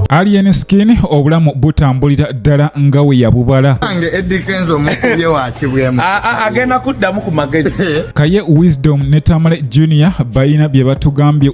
Alien Skin obulamu butambulira ddala nga we yabubala agenda kuddamu ku magezi kaye Wisdom ne Tamale Junior balina bye batugambye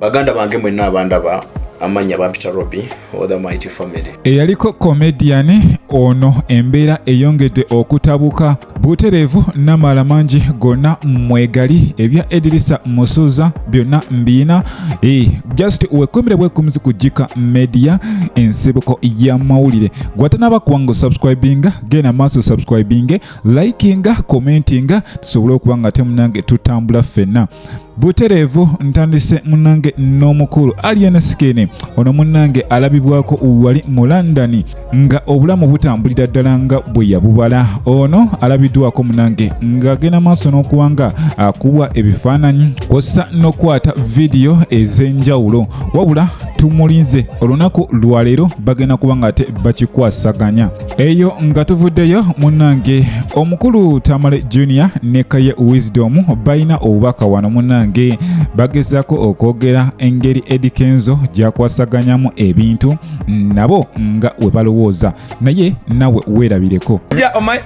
baganda bange mwenna abandaba amanya bampita robi othe mighty family eyaliko comedian ono embeera eyongedde okutabuka butereevu namala mangi gonna mwegali ebya edirisa musuuza byonna mbiina e, just wekumire bwekumuzi ku jika media ensibuko y'amawulire gwatanaba kuwanga osubscribinga genda maaso subscribinge likinga commentinga tusobole okuba nga temunange tutambula ffenna butereevu ntandise munange n'omukulu alien skin ono munange alabibwako wali mu london nga obulamu butambulira ddala nga bwe yabubala ono alabiddwako munange ng'agenda maaso n'okuba nga akuwa ebifaananyi kwossa n'okukwata vidiyo ez'enjawulo wabula tumulinze olunaku lwaleero bagenda kuba nga ate bakikwasaganya eyo nga tuvuddeyo munange omukulu tamale junior ne kaye wisdom balina obubaka wano munange bagezaako okwogera engeri edikenzo gyakwasaganyamu ebintu nabo nga we balowooza naye nawe weerabireko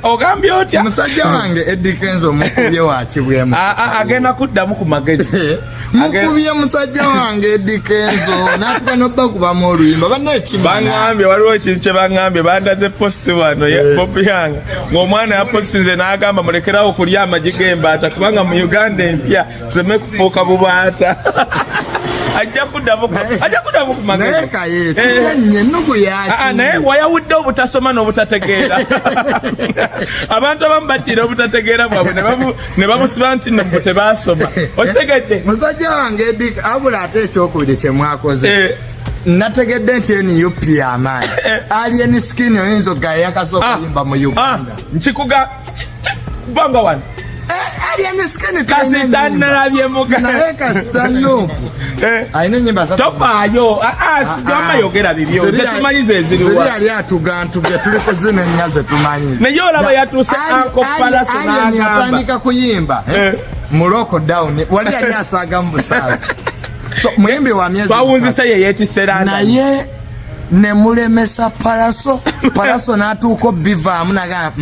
ogambye otya musajja wange edikenzo mukubye wakibwemu agenda kuddamu ku magezi mukubye musajja wange Eddy Kenzo n'atuka n'obakubamu oluyimba bannekibaŋambye waliwo ekintu kye baŋambye bandaze positi wano eh. bobi yange ng'omwana yapositinze n'agamba mulekerawo okulya amagi g'embaata kubanga mu uganda empya tuleme kufuuka bubaata ajja kuddamu ajja kuddamu ku magezi naye kaye eh. kitanye ennugu yaki ah, ah, naye wayawudde obutasoma n'obutategeera abantu abamu baddira obutategeera bwabwe ne bamu ne bamusiba nti nno mbu tebaasoma okitegedde musajja wange abula ate ekyokubiri kye mwakoze eh. nategedde nti nup yamaanyi eh. alien skin oyinza ogayakaza ah. okuyimba mu ah. uganda nkikuga bamba wano eh, alien skin kasita nalabye muga naye kasita nupu Eh. alina enyimba topaayo ah, ah, ah, sigamba yogera bibyo zetumanyi zeziriwa yali atugantuge tuli kuzina ennya zetumanyi naye olaba yatuuse akopalasoatandika kuyimba eh? Eh. mu lockdown wali yali asaaga mu busaazi muyimbi wa myezi bawunzise ye yetisera naye nemulemesa palaso palaso natuuka obivaamu nagaa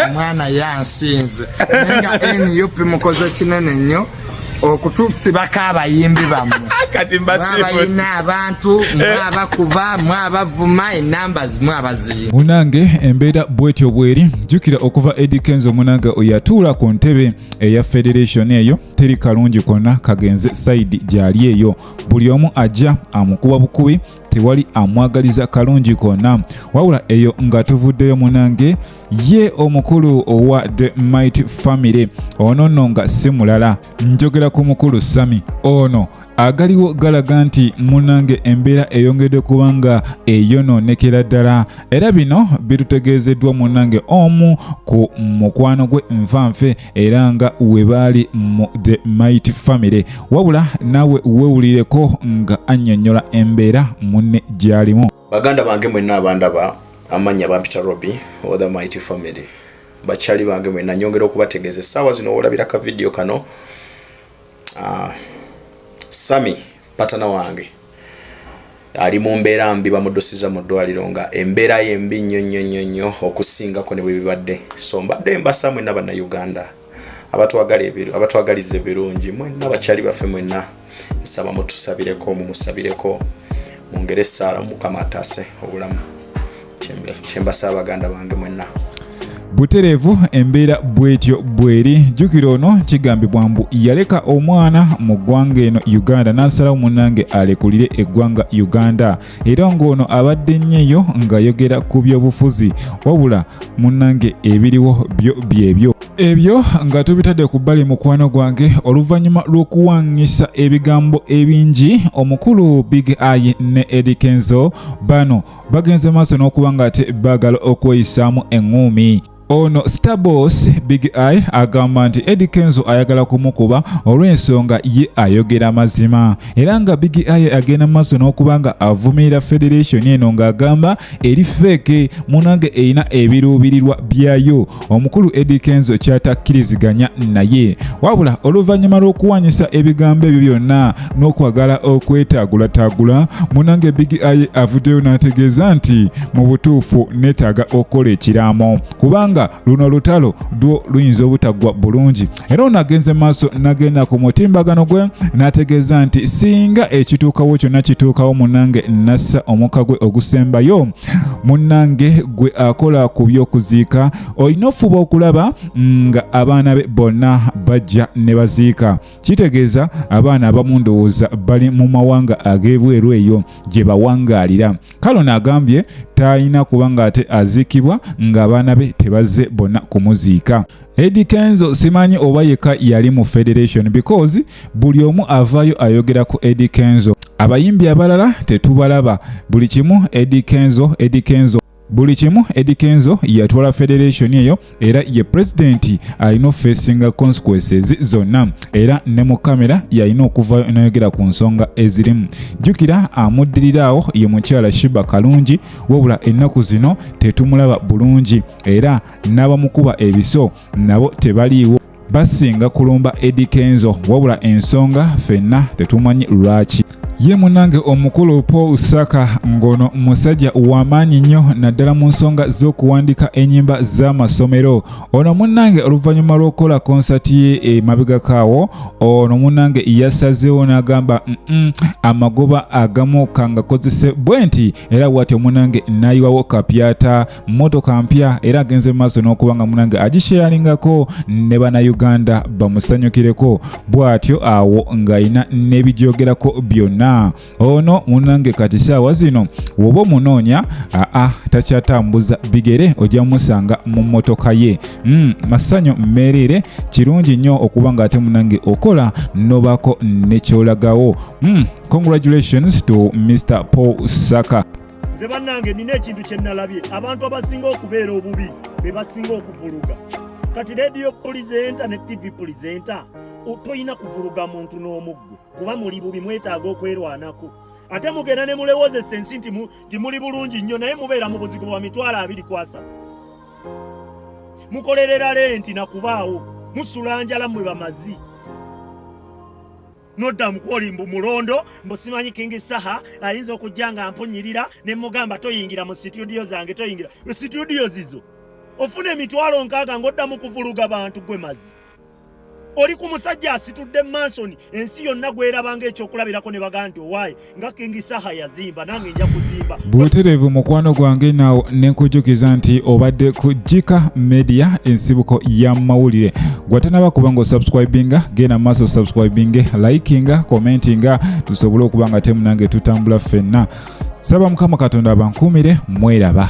omwana yansinze naye nga nup mukoze kinene nnyo okutusibako abayimbi bammwe mwabalina abantu eh. mwabakuba mwabavuma enamba zimwabaziyo munange embeera bwetyo bweri jukira okuva edi kenzo munange oyatuula ku ntebe eya federation eyo teri kalungi konna kagenze saidi gyali eyo buli omu ajja amukuba bukubi tewali amwagaliza kalungi kona wabula eyo nga tuvuddeyo munange ye omukulu owa the might family ono nno nga si mulala njogera ku mukulu sami ono agaliwo galaga nti munange embeera eyongedde kubanga eyonoonekera ddala era bino bitutegeezeddwa munange omu ku mukwano gwe nfanfe era nga we baali mu the might family wabula naawe wewulireko nga annyonnyola embeera munne gy'alimu baganda bange mwenna abandaba amannya bampita robi or the might family bakyali bange mwenna nyongera okubategeeza essaawa zino wolabira ka vidiyo kano Ah, Sami patana wange ali mu mbeera mbi bamudusiza mu ddwaliro nga embeera ye mbi nnyo nnyo nnyo nnyo okusingako ne bwe bibadde so mbadde mbasa mwenna bannayuganda abatwagala ebiru abatwagaliza ebirungi mwenna bakyali baffe mwenna nsaba mutusabireko mumusabireko mungere esaala mukama ataase obulamu kyembasaba baganda bange mwenna butereevu embeera bwetyo bweri jjukira ono kigambibwa mbu yaleka omwana mu ggwanga eno uganda n'asalawo munange alekulire eggwanga uganda era ng'ono abadde nnyeyo ng'ayogera ku byobufuzi wabula munange ebiriwo byo byebyo ebyo nga tubitadde ku bbali mukwano gwange oluvannyuma lw'okuwaŋŋisa ebigambo ebingi omukulu big ayi ne edikenzo bano bagenze maaso n'okuba nga ate baagala okweyisaamu eŋŋuumi ono starboss big eye agamba nti edi kenzo ayagala kumukuba olw'ensonga ye ayogera mazima era nga big eye agenda mu maaso n'okuba nga avumirira federation eno ng'agamba eri feeke munange erina ebiruubirirwa byayo omukulu Eddy Kenzo ky'atakkiriziganya naye wabula oluvannyuma lw'okuwanyisa ebigambo ebyo byonna n'okwagala okwetaagulataagula munange Big Eye avuddeyo n'ategeeza nti mu butuufu neetaaga okukola ekiraamo kubanga luno olutalo lwo luyinza obutaggwa bulungi era ono agenze maaso nagenda ku mutimbagano gwe n'ategeeza nti singa ekituukawo kyonna kituukawo munange nassa omukka gwe ogusembayo munange gwe akola ku by'okuziika olina ofuba okulaba nga abaana be bonna bajja ne baziika kitegeeza abaana abamu ndowooza bali mu mawanga ag'ebweru eyo gye bawangaalira kale ono agambye talina kuba ng'ate aziikibwa ng'abaana be tebazze bonna kumuziika Eddie Kenzo simanyi oba yeka yali mu federation because buli omu avayo ayogera ku Eddie Kenzo abayimbi abalala tetubalaba buli kimu Eddie Kenzo Eddie Kenzo buli kimu Eddie Kenzo yatwala federation eyo era ye president alina facing consequences zonna era ne mu kamera yalina okuvayo nayogera ku nsonga ezirimu jjukira amuddiriraawo ye mukyala Shiba Kalungi wabula ennaku zino tetumulaba bulungi era n'abamukuba ebiso nabo tebaliiwo basinga kulumba Eddy Kenzo wabula ensonga fenna tetumanyi lwaki ye munange omukulu Paul Saka ngono musajja wamaanyi nnyo naddala mu nsonga z'okuwandiika enyimba z'amasomero ono munange oluvannyuma lw'okukola konsati ye emabegakaawo ono munange yasazeewo n'agamba mm amagoba agamu kangakozese bwe nti era bwatyo munange nayiwawo kapyata mmotoka mpya era agenze mu maaso n'okuba nga munange agisheyalingako ne bannayuganda bamusanyukireko bw'atyo awo ng'alina n'ebigyogerako byonna ono munange kati saawa zino woba omunoonya aa takyatambuza bigere ojja musanga mu mmotoka ye mm, masanyu mmeereere kirungi nnyo okuba ng'ate munange okola n'obaako nekyolagawo mm, congratulations to mr paul saka nze bannange nina ekintu kye nnalabye abantu abasinga okubeera obubi be basinga okuvuluga kati rediyo pulizenta ne tivi pulizenta tolina kuvuluga muntu n'omuggwe kuba muli bubi mwetaaga okwerwanako ate mugenda ne mulewozesa ensi nti muli bulungi nnyo naye mubeera mu buzigo bwa mitwalo abiri kwasa mukolerera lenti na kubaawo musula njala mmwe bamazi nodda mukwoli mbu mulondo mbu simanyi kingi saha ayinza okujja nga mpunyirira ne mugamba toyingira mu situdiyo zange toyingira situdiyo zizo ofuna emitwalo nkaaga ng'oddamu kuvuluga bantu gwe mazi oli ku musajja asitudde mansoni ensi yonna gwerabanga ekyokulabirako ne bagaa nti owaaye nga King Saha yazimba nange nja kuzimba. Buterevu mukwano gwange nawo nenkujukiza nti obadde ku Jika Media ensibuko ya mawulire. Gwatanaba kuba nga osubscribinga genda maaso subscribinge likinga commentinga tusobole okuba nga temu nange tutambula ffenna. Saba mukama Katonda abankuumire mweraba.